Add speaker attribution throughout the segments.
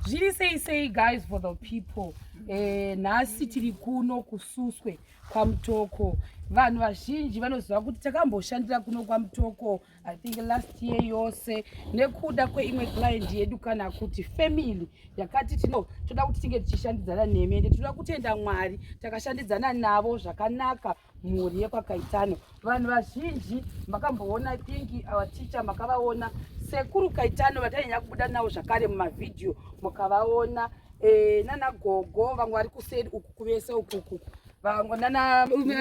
Speaker 1: zviri sei sei guys for the people eh, nhasi tiri kuno kususwe kwamutoko vanhu vazhinji vanoziva kuti takamboshandira kuno kwamutoko I think last year yose nekuda kweimwe client yedu kana kuti family yakati tino toda kuti tinge tichishandidzana nemi ende tinoda kutenda Mwari takashandidzana navo zvakanaka mhuri yekwakaitano vanhu vazhinji makamboona I think our teacher makavaona sekuru kaitano vatainyanya kubuda navo zvakare mumavhidhiyo mukavaona e, eh, nana gogo vamwe vari kuseri uku kuvese ukuku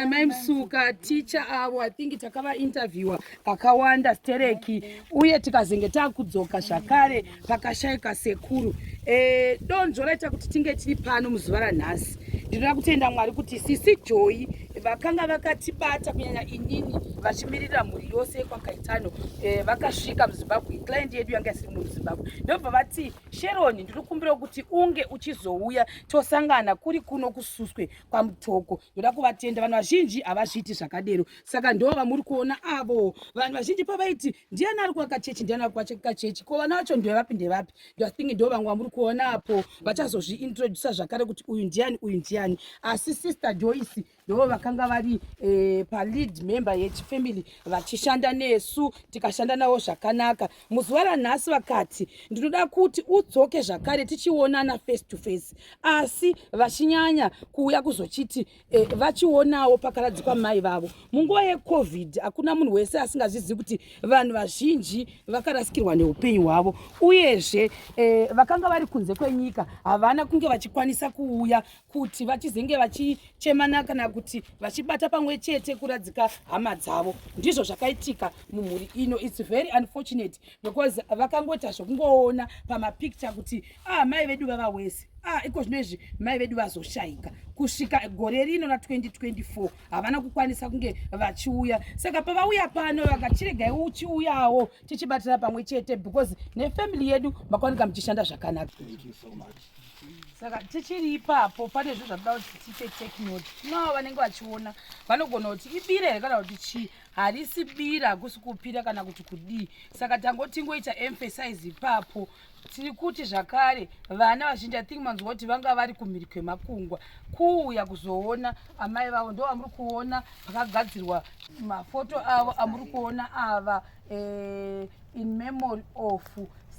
Speaker 1: mai msuka ticha avo i think takavainterviewa kakawanda stereki uye tikazenge takudzoka zvakare pakashaika sekuru e, donzvo raita kuti tinge tiri pano muzuva ranhasi ndinoda kutenda mwari kuti sisi joyi vakanga vakatibata kunyanya inini vachimirira mhuri yose yekwakaitano e, vakasvika muzimbabwe client yedu yanga isiri muzimbabwe ndobva vati Sheroni, ndiri kumbira kuti unge uchizouya tosangana kuri kuno kususwe kwamutoko. Ndoda kuvatenda vanhu vazhinji havazviiti zvakadero. Saka ndo vamuri kuona avo. Vanhu vazhinji pavaiti ndiani ari kuaka chechi ndiani ari kuaka chechi. Ko vana vacho ndevapi ndevapi. Ndo think ndo vamwe vamuri kuona apo vachazozviintroducer zvakare kuti uyu ndiani uyu ndiani. Asi sister Joyce ndivo vakanga vari e, palead member yechifamily vachishanda nesu tikashanda navo zvakanaka muzuva ranhasi vakati ndinoda kuti udzoke zvakare tichionana face to face asi vachinyanya kuuya kuzochiti e, vachionawo pakaradzikwa mai vavo munguva yecovid hakuna munhu wese asingazvizivi kuti vanhu vazhinji vakarasikirwa neupenyu hwavo uyezve e, vakanga vari kunze kwenyika havana kunge vachikwanisa kuuya kuti vachizenge vachichemana kana kuti vachibata pamwe chete kuradzika hama dzavo ndizvo zvakaitika mumhuri ino its very unfortunate because vakangoita zvekungoona pamapicture kuti ah mai vedu vava wese ah iko zvino izvi mai vedu vazoshayika kusvika gore rino na 2024 havana kukwanisa kunge vachiuya saka pavauya pano vakachiregai uchiuyawo tichibatira pamwe chete because nefamily yedu makaoneka muchishanda zvakanaka
Speaker 2: saka
Speaker 1: tichiri ipapo pane zvinhu zvakuda kuti tiite teknoti tinavo vanenge vachiona vanogona kuti ibira here kana kuti chii harisi bira hakusi kupira kana kuti kudii saka tangotingoita emphasize ipapo tiri kuti zvakare vana vazhinji ithink manzwa kuti vanga vari kumhiri kwemakungwa kuuya kuzoona amai vavo ndo vamuri kuona pakagadzirwa mafoto avo amuri kuona ava uh, in memory of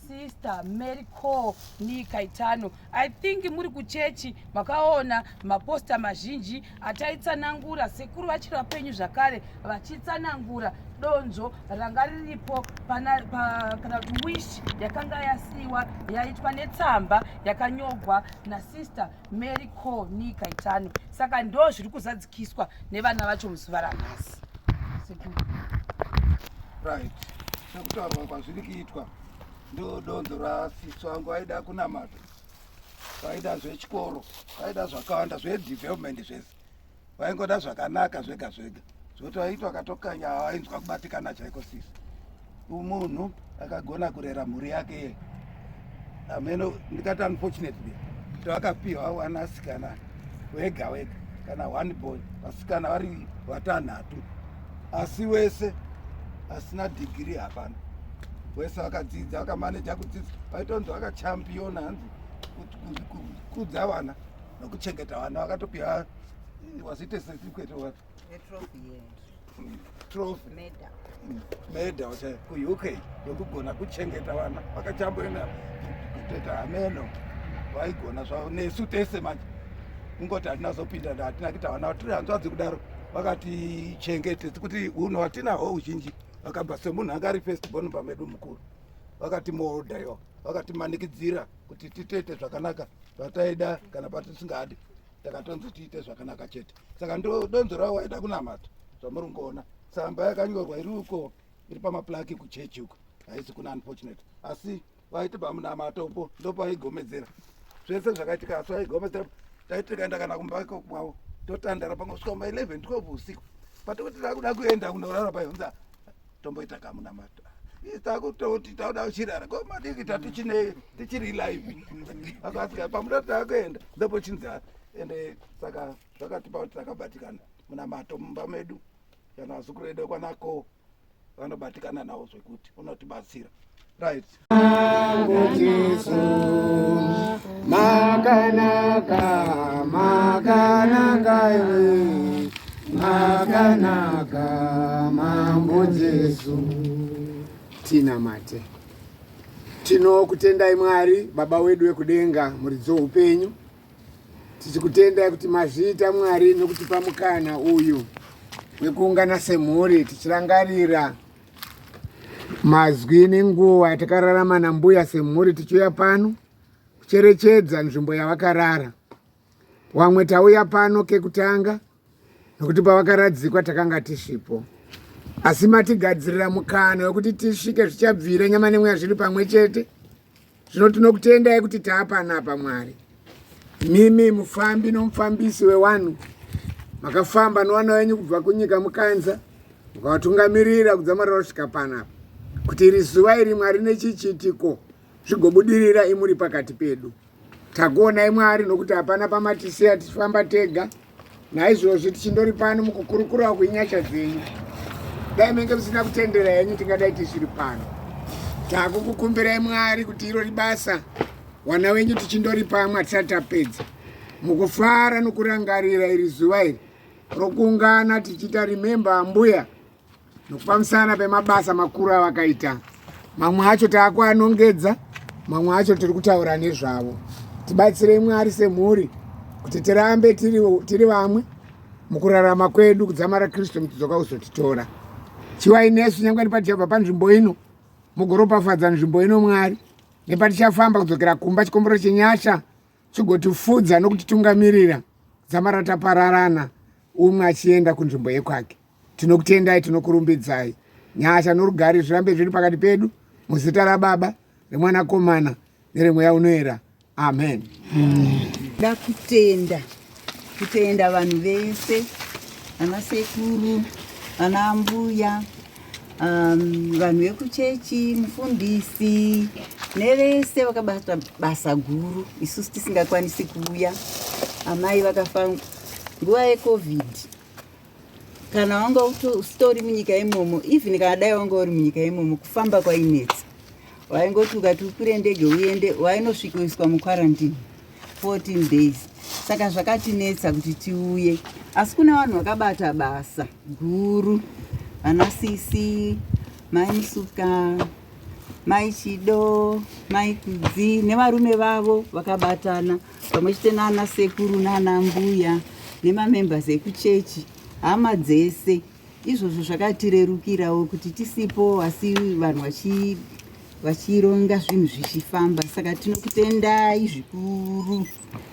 Speaker 1: sister mary co nikaitano i think muri kuchechi makaona maposta mazhinji ataitsanangura sekuru vachiri vapenyu zvakare vachitsanangura donzvo ranga riripo kana kuti wish yakanga yasiiwa yaitwa netsamba yakanyogwa nasister Mary ko nika itano saka ndo zviri kuzadzikiswa nevana vacho muzuva ranhasi right
Speaker 2: sekutaurwa kwazviri kuitwa ndo donzo rasisi wangu aida kunamata vaida zvechikoro vaida zvakawanda zvedevelopment zvese vaingoda zvakanaka zvega zvega zvoti vaitwa katokanya vainzwa kubatikana chaiko sisi umunhu akagona kurera mhuri yake ye ameno ndikati unfortunately kuti vakapiwa wanasikana wega wega kana one boy vasikana vari vatanhatu asi wese asina dhigiri hapana wese vakadzidza vakamaneja kudzidza vaitonzi vakachampiona hanzi kudza vana nokuchengeta vana vakatopiwa was it a certificate or what a trophy yeah. trophy meda meda wacha ku UK yokugona kuchengeta vana vakachamboenda kutoita hameno vaigona zvavo nesu tese manje kungoti hatina zopinda na hatina kuita vana tiri hanzvadzi kudaro vakati chengete kuti hunhu hatinaho uzhinji vakabva semunhu anga ari first born pamedu mukuru vakati moodha yo vakati manikidzira kuti titoite zvakanaka zvataida kana patisingadi takatonzi tiite zvakanaka chete saka ndodonzo ravo waida kunamata zvamuri kungoona tsamba yakanyorwa iri uko iri pamaplaki kuchechi uko haisi kuna unfortunate asi vaiti pamunamato upo ndopaigomedzera zvese zvakaitika asi vaigomedzera taiti tikaenda kana kumba iko kwavo totandara pangosvika ma 11 12 usiku patokuti takuda kuenda kunorara paihunza tomboita kamunamato takutoti tauda kuchirara ko madiki tatu chine tichiri live akasika pamuda taakuenda ndopo chinzi ende saka zvakatipa kuti takabatikana munamato mumba medu kana vazukuru edu kwanako vanobatikana nawo zvekuti unotibatsira right
Speaker 3: Makanaka, makanaka iwe, makanaka mambo Jesu. Tinamate, tinokutendai Mwari baba wedu wekudenga, muridzi weupenyu. Tichikutendai kuti mazviita Mwari nokutipa mukana uyu wekuungana semhuri tichirangarira mazwi nenguva yatakararama nambuya semhuri tichiuya pano kucherechedza nzvimbo yavakarara wamwe tauya pano kekutanga nokuti pavakaradzikwa takanga tisipo asi matigadzirira mukana wekuti tisvike zvichabvira nyama nemweya zviri pamwe chete Zvino tinokutendai kuti taapanapa Mwari. Mimi mufambi nomufambisi wewanhu makafamba nowana wenyu kubva kunyika mukanza mukawatungamirira kudzamara vasvika panapa kuti iri zuva iri Mwari nechichitiko zvigobudirira imuri pakati pedu. Takuonai Mwari nokuti hapana pamatisiya tichifamba tega. naizvozvi tichindori pano mukukurukurawo kwenyasha dzenyu dai menge musina kutendera henyu tingadai tisiri pano takukukumbirai mwari kuti iro ribasa wana wenyu tichindori pamwe hatisati tapedza mukufara nokurangarira iri zuva iri rokuungana tichiita remember ambuya Nokupamisana pemabasa makuru avakaita, mamwe acho taakuanongedza, mamwe acho tiri kutaura nezvavo. Tibatsirei Mwari semhuri kuti tirambe tiri, tiri vamwe mukurarama kwedu kudzamara Kristu mutidzoka uzotitora. Chivai nesu nyangwe nepatichabva panzvimbo ino mugoropafadza nzvimbo ino Mwari nepatichafamba kudzokera kumba chikombero chenyasha chigotifudza nokutitungamirira dzamara tapararana umwe achienda kunzvimbo yekwake. Tinokutendai, tinokurumbidzai. Nyasha norugare zvirambe zviri pakati pedu muzita raBaba, reMwanakomana neremweya unoera. Amen. Nda kutenda
Speaker 4: kutenda vanhu vese ana sekuru ana ambuya um, vanhu vekuchechi mufundisi nevese vakabata basa guru isusu tisingakwanisi kuuya amai vakafa nguva yecovid kana wanga usitori munyika imomo even kana dai wanga uri munyika imomo kufamba kwainetsa waingoti ukati ukwire ndege uende wainosvikoiswa muquarantine 14 days saka zvakatinetsa kuti tiuye asi kuna vanhu vakabata basa guru vana sisi mai musuka mai chido mai kudzi nevarume vavo vakabatana pamwe chete naana sekuru naana mbuya nemamembers ekuchechi hama dzese izvozvo zvakatirerukirawo kuti tisipo asi vanhu vachironga zvinhu zvichifamba saka tinokutendai zvikuru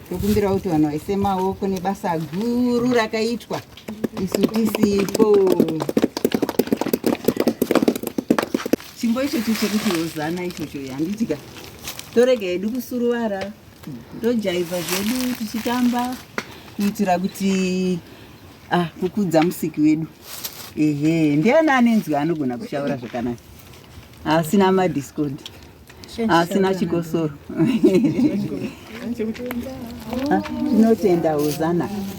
Speaker 4: tokumbirawo kuti vanhu vaise maoko nebasa guru rakaitwa isu tisipo chimbo ichocho chekuti hozana ichocho yandidya torega yedu kusuruvara tojaivha zvedu tichitamba kuitira kuti ah, kukudza musiki wedu ehe ndiani anenzwi anogona kushaura zvakanaka asina madiscord asina chikosoro tinotenda hozana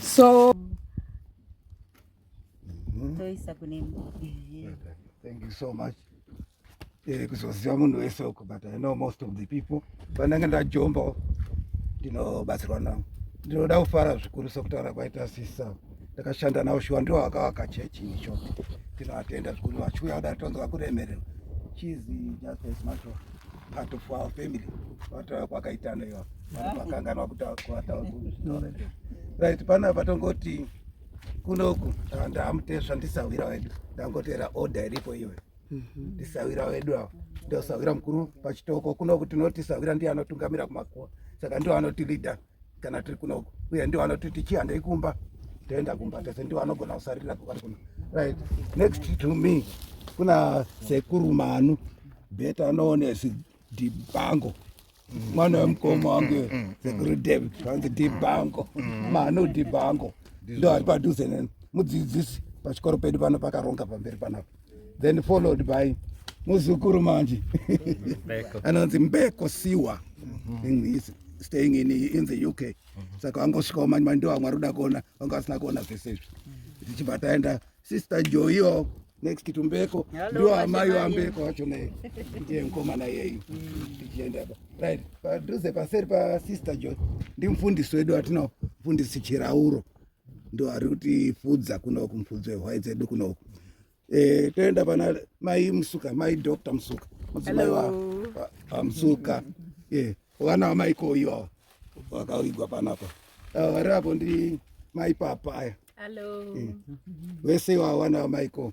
Speaker 1: So
Speaker 4: toisa kune
Speaker 2: thank you so much eh, kuzoziva munhu wese uko but i know most of the people panenge ndajomba ndinobatsirwa navo ndinoda kufara zvikuru sokutaura kwaita sisa ndakashanda navo shuwa ndiwo vakavaka chechi in short tinoatenda zvikuru vachiuya kuda tonzwa kuremererwa chizi just a smart part of our family vataura kwakaitana iva vanhu vakanganwa kutaura right panapa tongoti kunoku ah, ndamutesva ndisahwira wedu ndangotera order iripo iwe mhm. ndisahwira wedu avo ndosahwira mukuru pachitoko kunoku tinoti sahwira ndiye anotungamira kumakuwa saka ndiwo anoti leader kana tiri kuno uye ndiwo anoti tichihandei kumba toenda kumba tese ndiwo anogona kusarira kuva kuno right next to me kuna sekuru manu beta anoonesi dibango mwana wemukoma wangu mm, mm, sekuru mm. david vanzi dibango manu dibango ndo ari padhuze neni mudzidzisi pachikoro pedu pano pakaronga pamberi panapa then followed by muzukuru manje anonzi mbeko siwa mm-hmm. staying in, in the uk mm-hmm. saka wangosvikawo mani mani ndovamwe ari kuda kuona vanga vasina kuona zvese izvi mm-hmm. tichibva taenda sister joio next to mbeko ndiwo amai wambeko wacho ne ndiye mukomana yeyu mm. tichienda right padhuze paseri pasister jo ndimufundisi wedu atinawo mfundisi chirauro ndo ari kuti fudza kunoku mupfudzi wehwai dzedu kunoku eh, toenda pana mai musuka mai dr musuka mudzimai wamusuka eh, vana vamai koyu ava vakaigwa panapa ava vari apo ndi mai papa aya eh, vese ivavo vana vamai ko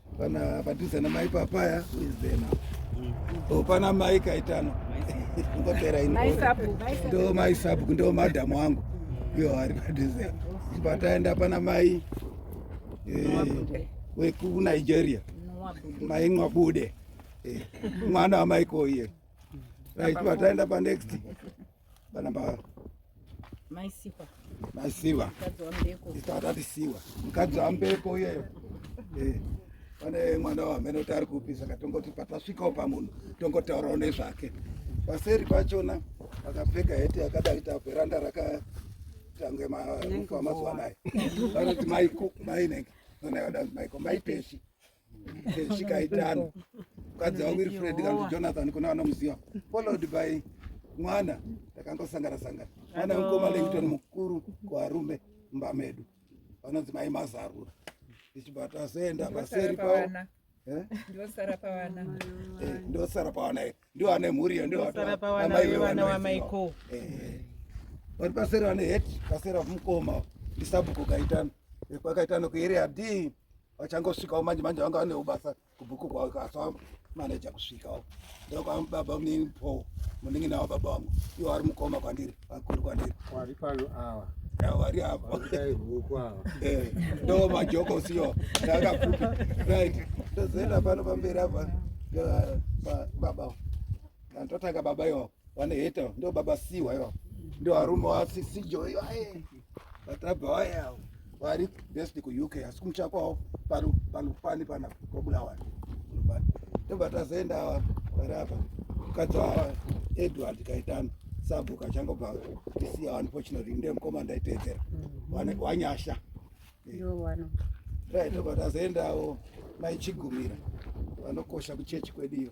Speaker 2: Pana padhuze namai papaya who is there now? Oh, pana mai kaitano ngopera ino ndo mai sabhuku ndo madhamu wangu iyo ari padhuze pataenda pana mai eh, wekunigeria mai nwabude eh, mwana wamaiko iye right pataenda panext banamba maisiwa maisiwa tatati siwa mukadzi wambeko iyeyo eh, pane mwana wamene kuti ari kupi saka tongoti patasvikawo pamunhu tongotaurawo nezvake paseri pachona akapfeka heti yakadai taveranda rakatange marufu amazuva anayo vanoti maiko mainenge vanaivadanzi maiko maipeshi zvikaitano mukadzi wa wilfred kanzi jonathan kune vanomuziva followed by mwana takangosangana sangana mwana wekoma langton mukuru kuarume mumba medu vanonzi mai mazarura ndichibata azoenda paseri pavo eh? ndosara pavana eh, ndiwo ane mhuri yo ndiwoamaiwewanawamaiko eh, vari paseri vane het paseri vamukoma ndisabhuko kaitano kwakaitano kuerea d vachangosvikawo manje manje vanga vanewo basa kubhuku kwavo kasa maneja kusvikawo ndokwava baba munini paul munenge nawo baba vangu iwo vari mukoma kwandiri vakuru kwandiri wari pano
Speaker 3: awa vari apo
Speaker 2: eh,
Speaker 3: ndo
Speaker 2: majoko siyo ndakapupi right ndozoenda pano pamberi apa baba ndotanga baba iwapo vaneheta ndo baba siwa iwapo ndo arume wasisijo iwaye vatabva vaya vari best kuuk asi kumuchakwawo panopani pana kwabulawa tobva tazoenda ava vari apa mukadzi wava edward kaitano sabhuku achangobva isiya unfortunately ndiye mukoma ndaiteedzera mm-hmm. wanyasha right tobva tazoendawo maichigumira vanokosha kuchechi kwedu iyo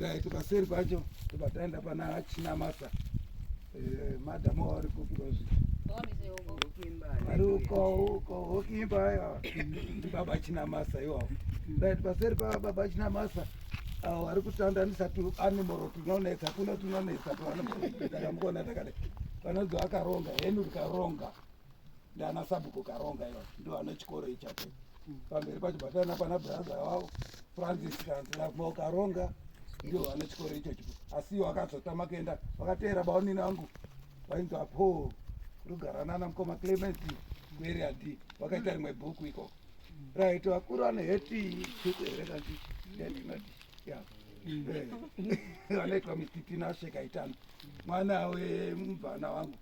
Speaker 2: right eh, paseri pacho tobva taenda pana hachina masa eh, madam wavari kukurozi vari uko uko hokimba aya ndibaba china masa iwawo right paseri pababa china masa awo vari kutandanisa tu animal tunonetsa kuno tunonetsa tuanimal takamukona takada vanozi vakaronga henu rikaronga ndiana sabhuku karonga iva ndo ana chikoro ichacho pamberi pacho batana pana braza wavo francis kanziramo karonga ndio ana chikoro ichocho asi wakazotama kuenda vakateera baonini vangu vainzi apo rugaranana mukoma clement kueria d vakaita rimwe bhuku iko right vakuru vane heti bhuku here kanti yatinoti ya vanoitwa mititinashekaitano mwana wemubvana wangu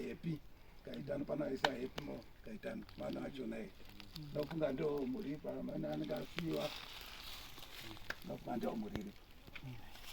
Speaker 2: happy kaitani panaisa happy mo kaitani mwana wacho naye ndofunga ndo muripa mwana anenge asiwa ndofunga ndo muriripa